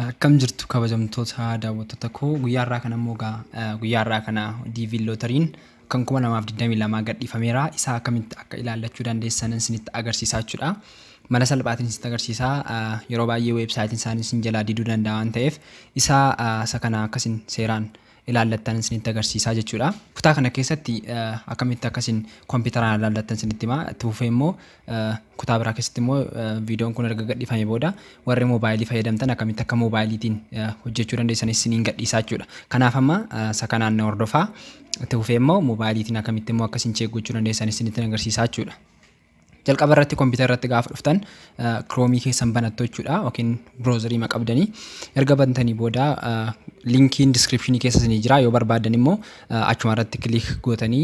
Akkam jirtu kabajamtoota daawwattoota koo guyyaa har'aa kana immoo egaa guyyaa har'aa kana DV Lootariin kan 2022 gadhiifameera isaa akkamitti akka ilaallachuu dandeessan isinitti agarsiisaa jechuudha. Mala salphaatiin isinitti agarsiisaa yeroo baay'ee weebsaayitiin isaanii isin jalaa diduu danda'a waan ta'eef isaa isa kana akkasin seeraan ilaallattan isinitti agarsiisaa jechuudha. Kutaa kana keessatti akkamitti akka isin kompiitaraan ilaallattan isinitti himaa. Itti fufee immoo kutaa biraa keessatti immoo viidiyoon kun erga gadhiifame booda warri moobaayilii fayyadamtan akkamitti akka moobaayiliitiin hojjechuu dandeessan isiniin gadhiisaa jechuudha. Kanaaf amma isa kanaan na hordofaa. Itti fufee immoo moobaayiliitiin akkamitti immoo akka isin cheek gochuu dandeessan isinitti agarsiisaa jechuudha. Jalqaba irratti kompiitara irratti gaafa dhuftan kiroomii keessan banattu jechuudha yookiin biroozarii ma qabdanii erga bantanii booda linkiin diskiripshinii keessa isinii jira yoo barbaadan immoo achuma irratti kiliik gootanii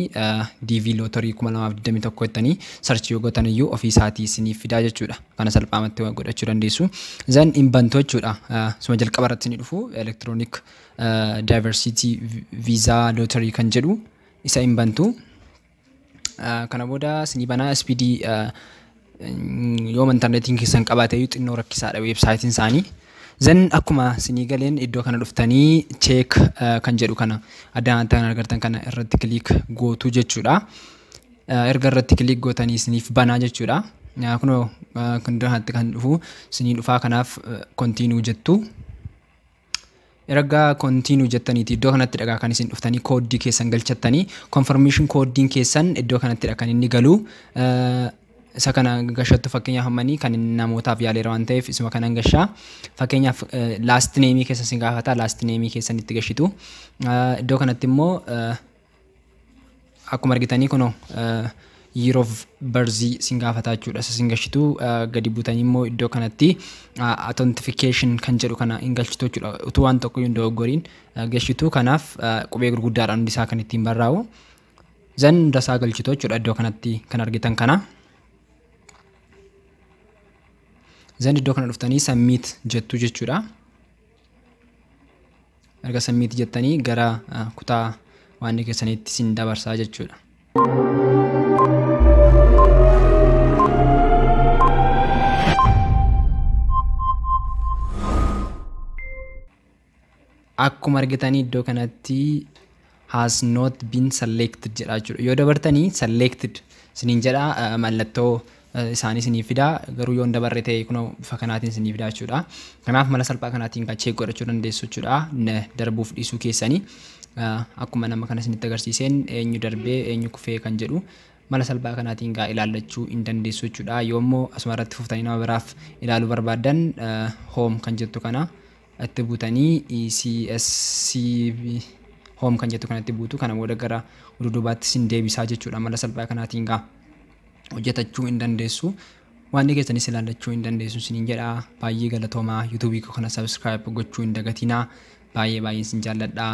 DV lootorii 2021 jettanii sarchii yoo gootan iyyuu ofii isaatii isiniif fidaa jechuudha kana salphaamatti godhachuu dandeessu zan hin bantu jechuudha suma jalqaba irratti isinii dhufu elektiroonik daayivarsiitii viizaa lootorii kan jedhu isa hin bantu Kana booda isinii banaa SPD yooma intarneetiin keessan qabaateeyyuu xinnoo rakkisaadha weebsaayitiin isaanii. Zan akkuma isinii galeen iddoo kana dhuftanii cheek kan jedhu kana addaan addaan argartan kana irratti kiliik gootuu jechuudha. Erga irratti kiliik gootanii isiniif banaa jechuudha. Kunoo kan duraatti kan dhufu isinii dhufaa kanaaf kontiinuu jettu. Ergaa continue jettaniiti iddoo kanattidha egaa kan isin dhuftanii kooddii keessan galchattanii confirmation kooddiin keessan iddoo kanattidha kan inni galu isa kana gashattu fakkeenyaaf ammanii kan namootaaf yaaleera waan ta'eef isuma kanan gashaa fakkeenyaaf last name keessa isin gaafata last name keessan itti gashitu iddoo kanatti immoo Akkuma argitanii kunoo year of birth sin gaafataa jechuudha. Isa sin gashitu gadi butanii immoo iddoo kanatti authentication kan jedhu kana hin galchitu jechuudha. Utuu waan tokko hin dogoggoriin gashitu kanaaf qubee gurguddaadhaan hundi isaa kan ittiin barraa'u. Zan hunda isaa galchitu jechuudha iddoo kanatti kan argitan kana. Zan iddoo kana dhuftanii submit jettu jechuudha. Erga sammiitti jettanii gara kutaa waannii keessaniitti sin dabarsaa jechuudha. Akkuma argitanii iddoo kanatti has not been selected jedha jechuudha. Yoo dabartanii selected isiniin jedha mallattoo isaanii isiniif fidaa garuu yoo hin dabarre ta'e kunoo bifa kanaatiin isiniif fidaa jechuudha. Kanaaf mala salphaa kanaatiin kan cheek godhachuu dandeessu jechuudha. Darbuuf dhiisuu keessanii akkuma nama kana isinitti agarsiiseen eenyu darbee eenyu kufee kan jedhu mala salphaa kanaatiin gaa ilaallachuu hin dandeessu jechuudha. Yoo immoo asuma irratti fuftanii nama biraaf ilaaluu barbaaddan home kan jettu kana Itti butanii ECSC home kan jettu kanatti buutu kana booda gara duduubaatti sin deebisaa jechuudha mala salphaa kanaatiin gaa hojjetachuu hin dandeessu waan keessaniis ilaallachuu hin dandeessu sinin jedha baay'ee galatoomaa yuutuubii koo kana subscribe gochuu hin dagatinaa baay'ee baay'een sin jaalladhaa